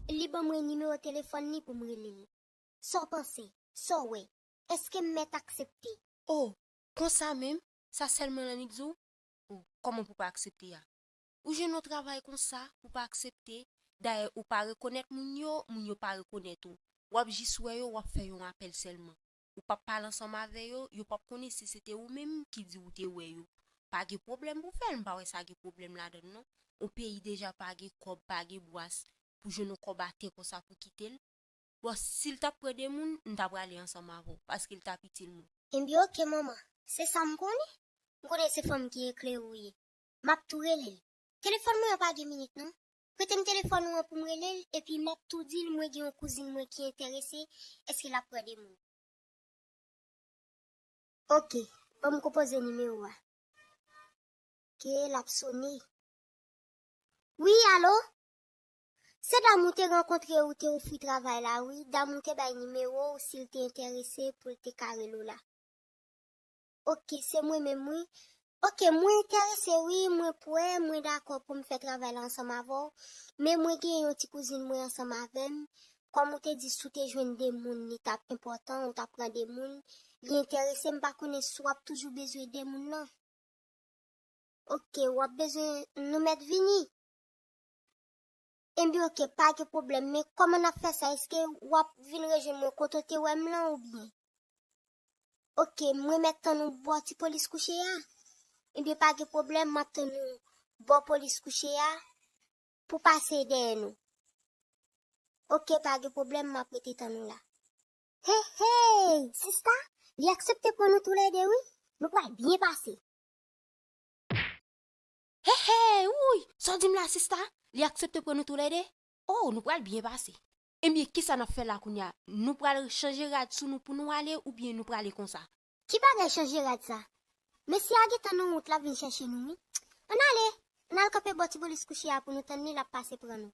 Li ban mwen nimewo telefòn li pou m rele l. Sa w panse? Sa w wè? Èske m mèt aksepte? O! Konsa menm? Sa sèlman Lannik di w? O! Kòman pou w pa aksepte a? Ou jwenn yon travay konsa, ou pa aksepte, dayè ou pa rekonèt moun yo, moun yo pa rekonèt ou. W ap jis wè yo, w ap fè yon apèl sèlman. Ou p ap pale ansanm avè yo, yo p ap konnen si se te ou menm ki di ou te wè yo. Pa gen pwoblèm pou fè l, m pa wè sa gen pwoblèm ladan l non. On peyi deja pa gen kòb, pa gen bwas, pou jwenn on kòb atè konsa pou kite l. Bon, si l t ap pran de moun, m ta prale ansanm avè w, paske l t ap itil mwen. Enben ok manman, se sa m konnen. M konnen se fanm ki eklere ou ye. Map tou relel. Telefòn mwen an pa gen minit non. Pretem telefòn ou an poum relel epi map tou dil mwen gen yon kouzin mwen ki entèrese eske lap pran de mwen. Ok banm konpoze nimewo a. Ok lap sone. Wi alo? Se dam ou te rankontre ou te ofri travay la wi dam ou te bay nimewo ou sil te entèrese poul te ka rele w la. Ok se mwen menm wi. Ok mwen entèrese wi mwen pwè mwen dakò poum fè travay la ansanm avèw men mwen gen yon ti kouzin mwen ansanm avèm kòm ou te di si w te jwenn 2 moun li tap enpòtan ou ta pran 2 moun li entèrese m pa konnen si wap toujou bezwen 2 moun nan. Ok wap bezwen nou mèt vini. Ebyen ok pa gen pwoblèm men kòman nap fè sa eske wap vin rejwenn mwen kote w te wèm lan oubyen. Ok mwen mèt tann ou bò ti polis kouche a Ebyen pa gen pwoblèm map tann ou bò polis kouche a pou pase dèyè nou Ok pa gen pwoblèm map rete tann ou la Hey hey sista li aksepte pran nou toulède wi nou pral byen pase Hey hey wouyy sa w di m la sista li aksepte pran nou toulède Oh nou pral byen pase. Ebyen kisa nap fè la kounya nou pral chanje rad sou nou pou nou ale oubyen nou prale konsa. Ki bagay chanje rad sa. Mesye a gentan nan wout lap vin chèche nou wi. Ann ale, ann al kanpe bò Tibolis kouche a pou nou tann li lap pase pran nou.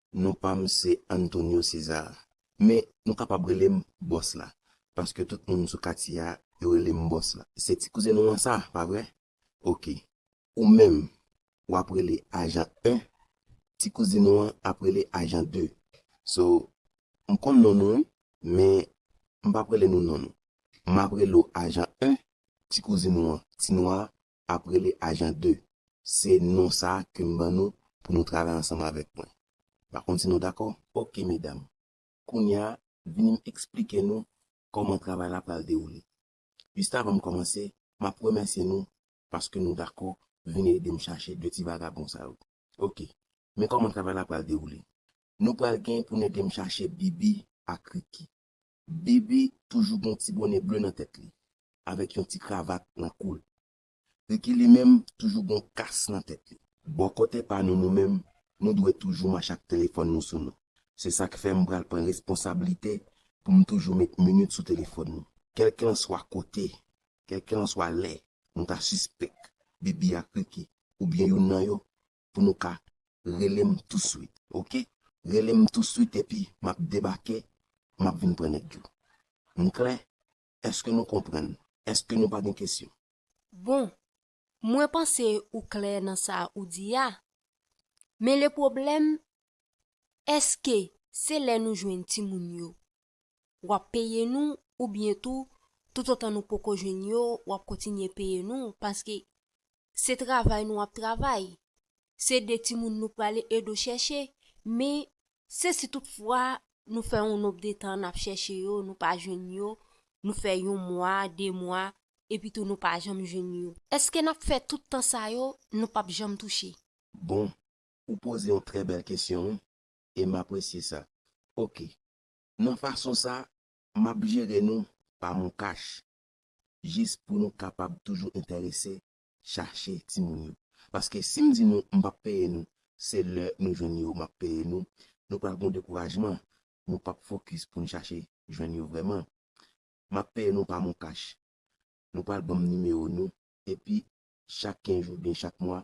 Non pa m se Antonio Cesar, men nou kapab rele m Bòs la, paske tout moun sou katye a, yo rele m Bòs la. Se ti kouzen nou an sa, pa vre? Oke. Ou menm, w ap rele Ajan 1, ti kouzin ou an ap rele Ajan 2. So, m konn non nou wi, men m p ap rele nou non nou. M ap rele w Ajan 1, ti kouzin ou an, ti nwa, ap rele Ajan 2. Se non sa a ke m ban nou pou nou travay ansanm avèk mwen. M pa konn si nou dakò? Ok, medam. Kounye a, vini m esplike nou kòman travay la pral dewoule. Jis avan m kòmanse, m ap remèsye nou paske nou dakò vini ede m chache 2 ti vagabon sa yo. Ok, men kòman travay la pral dewoule. Nou pral gen pou n ede m chache Bibi ak Riki. BB toujou gen yon ti bone ble nan tèt li avèk yon ti kravat nan kou l. Ricky li menm toujou gen yon kas nan tèt li. Bò kote pa nou nou menm, nou dwe toujou mache ak telefòn nou sou nou. Se sa k fè m pral pran responsablite pou m toujou met minit sou telefòn nou. Kèlkelanswa kote, kèlkelanswa lè nou ta sispèk BB ak Ricky oubyen youn nan yo pou nou ka rele m tou swit ok rele m tou swit epi map debake map vin pran nèg yo m klè eske nou konprann eske nou pa gen kesyon. Bon, mwen panse ou klè nan sa ou di a, men le pwoblèm Eske se lè nou jwenn timoun yo wap peye nou oubyen tou toutotan nou poko jwenn yo wap kontinye peye nou paske se travay nou ap travay se de timoun nou prale edo chèche men se si tout fwa nou fè yon nonb de tan nap chèche yo nou pa jwenn yo nou fè yon mwa de mwa epi tou nou pa janm jwenn yo. Eske nap fè tout tan sa yo nou pap janm touche. Bon Ou poze yon trè bèl kesyon wi e m apresye sa. Ok, nan fason sa m ap jere nou pa moncash jis pou nou kapab toujou entèrese chache timoun yo. Paske si m di nou m p ap peye nou se lè nou jwenn yo m ap peye nou, nou pral gen yon dekourajman, nou p ap fokis pou n chache jwenn yo vrèman. M ap peye nou pa moncash. Nou pral ban m nimewo nou epi Chak 15 jou oubyen chak mwa,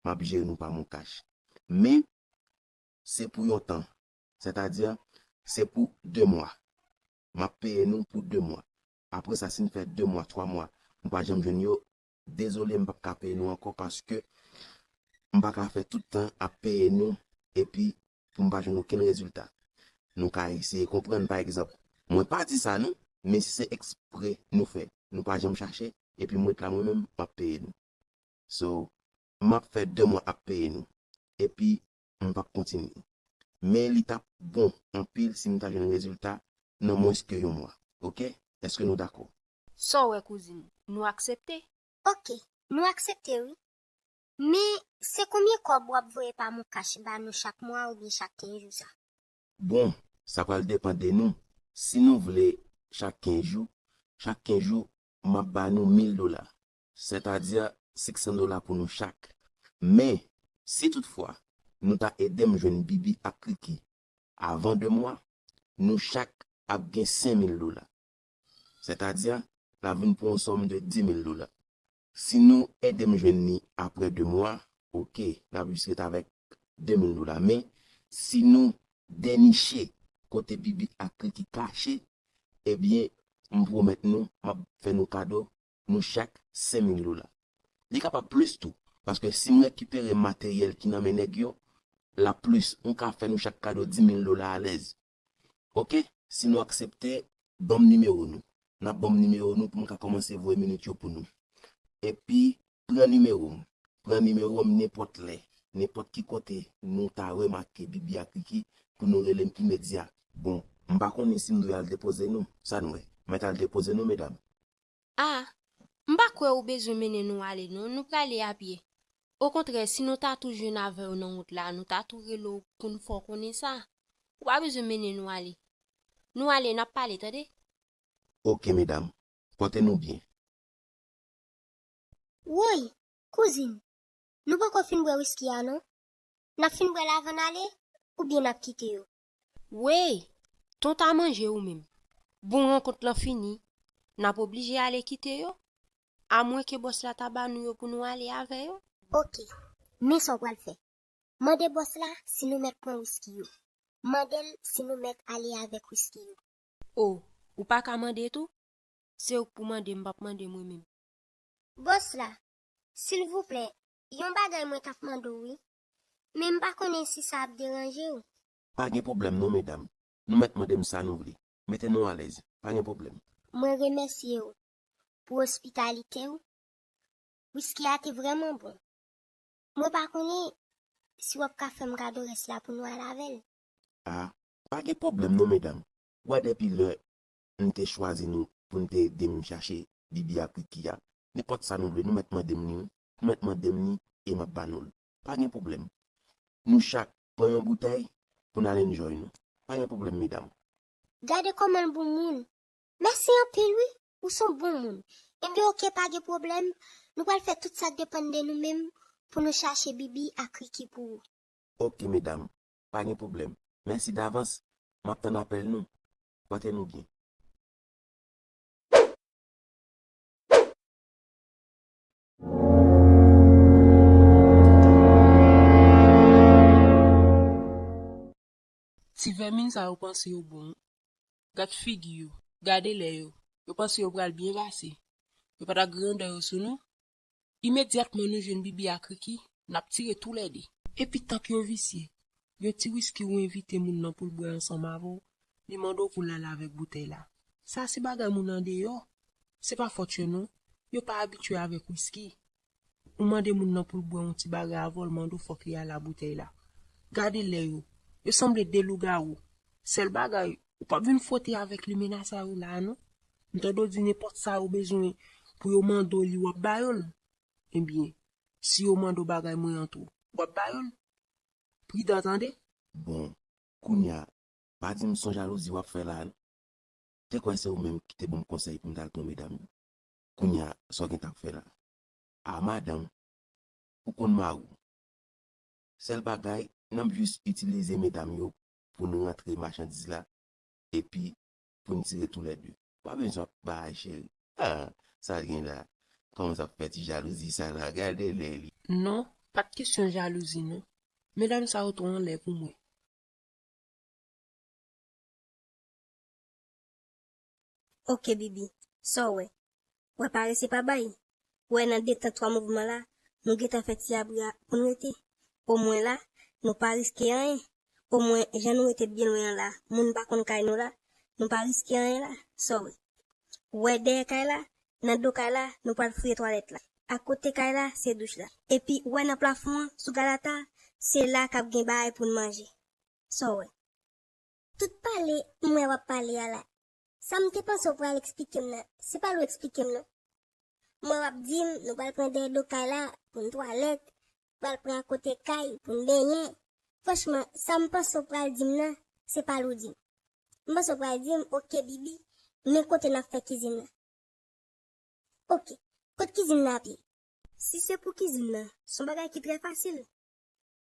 m ap jere nou pa MonCash. Men, se pou yon tan. Sètadi, se pou 2 mwa. M ap peye nou pou 2 mwa. Apre sa, si n fè 2 mwa, 3 mwa, nou pa janm jwenn yo, dezole m p ap ka peye nou ankò paske m pa ka fè tout tan ap peye nou epi pou m pa jwenn okenn rezilta. Nou ka eseye konprann pa egzanp, Mwen pa di sa non, men si se ekspre nou fè, nou pa janm chache, epi m ret la mwen menm, m ap peye nou. So, m ap fè 2 mwa ap peye nou, epi m p ap kontinye. Men li t ap bon anpil si m ta jwenn rezilta nan mwens ke yon mwa. Ok, èske nou dakò? Sa w wè kouzin, nou aksepte? Ok, nou aksepte wi. Men se konbyen kob wap voye pa mon cash ba nou chak mwa oubyen chak 15 jou sa. Bon sa pral depan de nou si nou vle chak 15 jou chak 15 jou map ba nou 1000 dola sètadi 600 dola pou nou chak men si tout fwa nou ta edem jwenn bibi ak kiki avan 2 mwa nou chak ap gen 5000 dola sètadi la vin pou yon sòm de 10000 dola Si nou edem jwenn li aprè 2 mwa ok nap jis ret avèk 2000 dola men si nou deniche kote bibi ak kriki kache ebyen m pwomèt nou map fè nou kado nou chak 5000 dola li kapab plis tou paske sim rekipere materyèl ki nan men nèg yo lap plis m ka fè nou chak kado 10000 dola alèz. ok si nou aksepte banm nimewo nou nap banm nimewo nou poum ka kòmanse voye minit yo pou nou epi pran nimewom pran nimewom nenpòt lè nenpòt ki kote nou ta remake bibi ak kiki pou nou relem imedya. Bon m pa konnen si m dwe al depoze nou, sa n wè. Mwen t al depoze nou medam. A, M pa kwè ou bezwen mennen nou ale non, nou prale apye. Okontrè, si nou ta tou jwenn avè w nan wout la, nou ta tou rele w pou n fè w konnen sa. Ou pa bezwen mennen nou ale. Nou ale, n ap pale, tande. Oke, medam. Pòte nou byen. Woy! Kouzin, nou poko fin bwè wiski a non. N ap fin bwè l avan n ale, oubyen n ap kite yo? Weyy! Ton ta manje ou menm. Bon rankont lan fini, nap oblije ale kite yo, amwen ke bòs la ta ba nou yo pou nou ale avè yo. Ok, men sa w pral fè. Mande bòs la si nou mèt pran wiski yo. Mande l si nou mèt ale avèk wiski yo. Oh, ou pa ka mande tou? Se ou k pou mande, m pap mande mwen menm. Bòs la, Silvouplè, yon bagay mwen tap mande w wi. Men m pa konnen si sa ap deranje w. Pa gen pwoblèm non medam, nou mèt mande m sa nou vle. Mete nou alèz, pa gen pwoblèm. Mwen remèsye w pou ospitalite w. Wiski a te vrèman bon. Mwen pa konnen si w ap ka fè m kado rès la pou nou al avè l. A, pa gen pwoblèm non medam. Wè depi lè m te chwazi nou pou n te ede m chache Bibi ak Wiki a, nenpòt sa nou vle nou mèt mande m li wi. Mèt mande m li e m ap ba nou l. Pa gen pwoblèm. Nou chak pran yon boutèy pou n al enjoy nou. Pa gen pwoblèm medam. Gade kòman l bon moun. Mèsi anpil wi. Ou s on bon moun. Enben oke pa gen pwoblèm. Nou pral fè tout sa k depann de nou menm pou nou chache Bibi ak Riki pou ou. Oke medam. Pa gen pwoblèm. Mèsi davans. M ap tann apèl nou. Pòte nou byen. Ti vèmin sa yo panse yo bon wi. Gad figi yo, gade lè yo. Yo panse yo pral byen pase. Yo pa ta grandè yo sou nou. Imedyatman nou jwenn Bibi ak Ricky, n ap tire tou lè de. Epi tank yo visye. Yon ti wiski ou envite moun nan pou l bwè ansanm avè w, li mande w pou l ale avèk boutèy la. Sa se bagay moun andeyò. Se pa fòt yo non. Yo pa abitye avèk wiski. Ou mande moun nan pou l bwè yon ti bagay avè w l mande w fòk li ale a boutèy la. Gade lè yo. Yo sanble de lougawou. Sèl bagay, ou p ap vin fwote avèk limena sa yo la a non. M tande w di nenpòt sa yo bezwen pou yo mande w li w ap ba yo l. Ebyen, si yo mande w bagay mwen an tou, w ap ba yo l? pridan tande. Bon kounya pa dim son jalouzi wap fè la non te kwè se ou menm kite banm konsèy poum tal pran medam yo kounya sa w gentan ap fè la ah madanm ou konn mariw sèl bagay nan jus itilize medam yo poun rantre machandiz la epi pou n tire tou lè de. Pa bezwen ap bay cheri. Haa sa l gen la a? Kòmans ap fè ti jalouzi sa la a? Gade lè li. Non, pa t kesyon jalouzi non. Medam sa yo twò anlè pou mwen. Ok bibi, sa w wè? wè pa resi pa bay, wè nan de tan twa mouvman la nou gentan fè ti abri a pou n rete, omwen la nou pa riske anyen, omwen jan nou rete byen lwen an la moun pa konn kay nou la, nou pa riske anyen la, sa w wè? W wè dèyè kay la, nan do kay la nou pral fouye twalèt la, akote kay la se douch la, epi w wè nan plafon an sou galata se la k ap gen bagay pou n manje, sa w wè? Tout pale m wè w ap pale a la Sa m te panse w pral eksplike m nan, se pa l ou eksplike m non. M wè w ap di m nou pral pran dèyè do kay la pou n twalèt, pral pran akote kay pou n benyen. Franchman, sa m panse w pral di m nan, se pa l ou di m. M panse w pral di m, ok Bibi, men kote n ap fè kizin nan. Ok, kot kizin nan ap ye? Si se pou kizin nan, s on bagay ki trè fasil.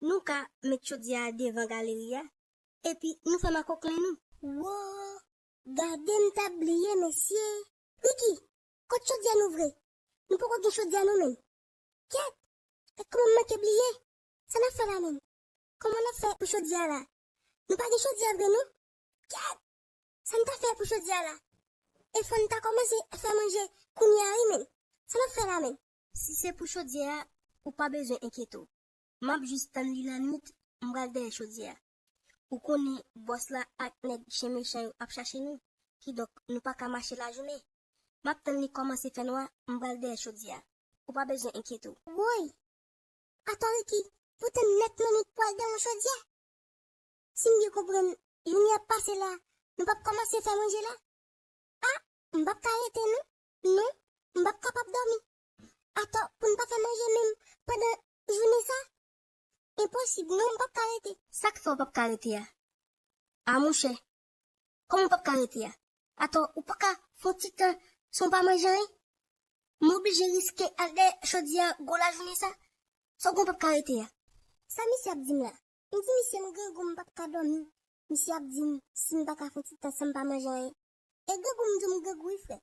Nou ka met chodyè a devan galeri a epi nou fè makoklen nou. Woo! Gade m ta bliye mesye! Niki, kot chodyè nou vre? Nou poko gen chodyè nou menm. Kèt! Gad kouman m manke bliye! Sa n ap fè la menm? Kouman n ap fè pou chodyè a la? Nou pa gen chodyè vre non! Kèt! Sa n ta fè pou chodyè a la? E fò n ta kòmanse fè manje kounye a wi menm! Sa n ap fè la menm? Si se pou chodyè a, ou pa bezwen enkyete w. Map jis tann li lanwit m pral dèyè chodyè a. Ou konnen bòs la ak nèg chen mechan yo ap chache nou, kidonk nou pa ka mache lajounen. Map tann li kòmanse fè nwa m pral dèyè chodyè a. Ou pa bezwen enkyete w. Woy! Atò Ricky, pou tann nèt lanwit pou al dèyè yon chodyè? Si m byen konprann, jounen ap pase la, nou pap kòmanse fè manje la? Ah! M pap ka rete non. Non, m pap kapab dòmi. Atò pou n pa fè manje menm pandan jounen sa? Enposib non m pap ka rete. Sak fè w pap ka rete a? Ah monchè kòman w pap ka rete a? Atò ou paka fè yon ti tan san w pa manje anyen? M oblije riske al dèyè chodyè a gwo lajounen sa? Sa w gen w pap ka rete a? Sa misye ap di m la? M di misye m grangou m pap ka dòmi, misye ap di m si m paka fè yon ti tan san m pa manje anyen. E grangou m di w m grangou wi frè.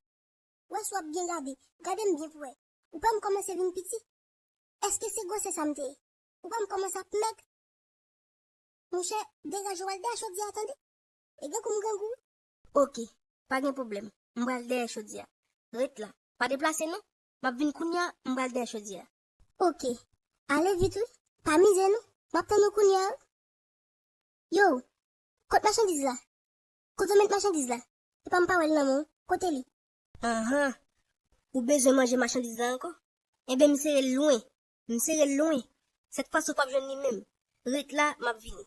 wè si wap byen gade, gadem byen pou wè, ou pam kòmanse vin piti, eske se gwosè sa mte ye, ou pam kòmanse ap mèg, monchè degaje wal dèyè chodyè a tande, e gen kou m grangou wi. Ok, pa gen pwoblèm, m pral dèyè chodyè a, ret la, pa deplase non, map vin kounya, m pral dèyè chodyè a. Ok, ale vit wi, pa mize non, map tann ou kounya wi. Yow, kot machandiz la, kote w met machandiz la, Epa m pa wè l nan men w, kote li? Anhan! Ou bezwen manje machandiz la ankò? Enben m sere l lwen. M sere l lwen. Sèt fwa si w pap jwenn li menm. Ret la, m ap vini.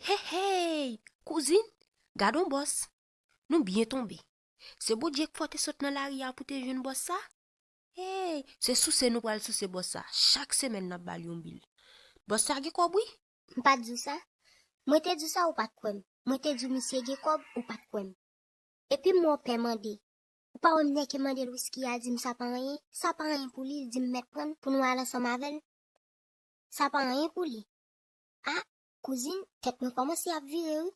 Heheyy kouzin gad on bòs nou byen tonbe se bondye k fè w te sot nan lari a pou te jwenn bòs sa heyy se souse nou pral souse bòs sa chak semèn nap bal yon bil bòs sa gen kòb wi. M pat di w sa? Mwen te di w sa ou pat kwè m, mwen te di w misye gen kòb ou pat kwè m. Epi m wè w pè mande, Ou pa wè m nèke mande l wisky a di m sa pa anyen, sa pa anyen pou li, l di m mèt pran l pou nou al ansanm avè l. Sa pa anyen pou li. A, kouzin, tèt mwen kòmanse ap vire wi.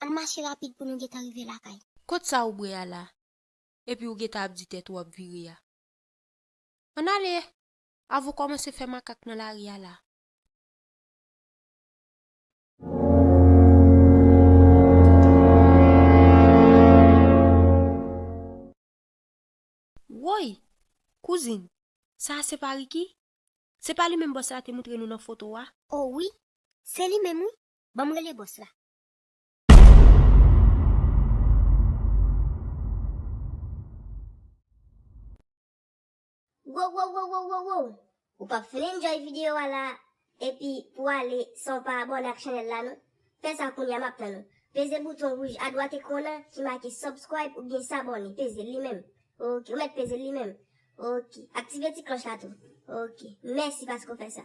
Ann mache rapid pou nou gentan rive lakay. Kot sa ou bwè a la, epi ou gentan ap di tèt ou ap vire a? Ann ale, avan w kòmanse fè makak nan lari a la. Woy! Kouzin, sa a se pa Riki? Se pa li menm bòs la te moutre nou nan foto a? O wi, se li menm wi. Ban m rele bòs la. Wowowowowowoww ou pap fin enjoy video a la epi pou ale san w pa abone ak chanel la non fè sa kounya map tann ou peze bouton wouj adwat ekran nan ki make subscribe oubyen s'abonner peze l li menm ok ou mèt peze l li menm ok aktive ti klòch la tou ok mèsi paske w fè sa.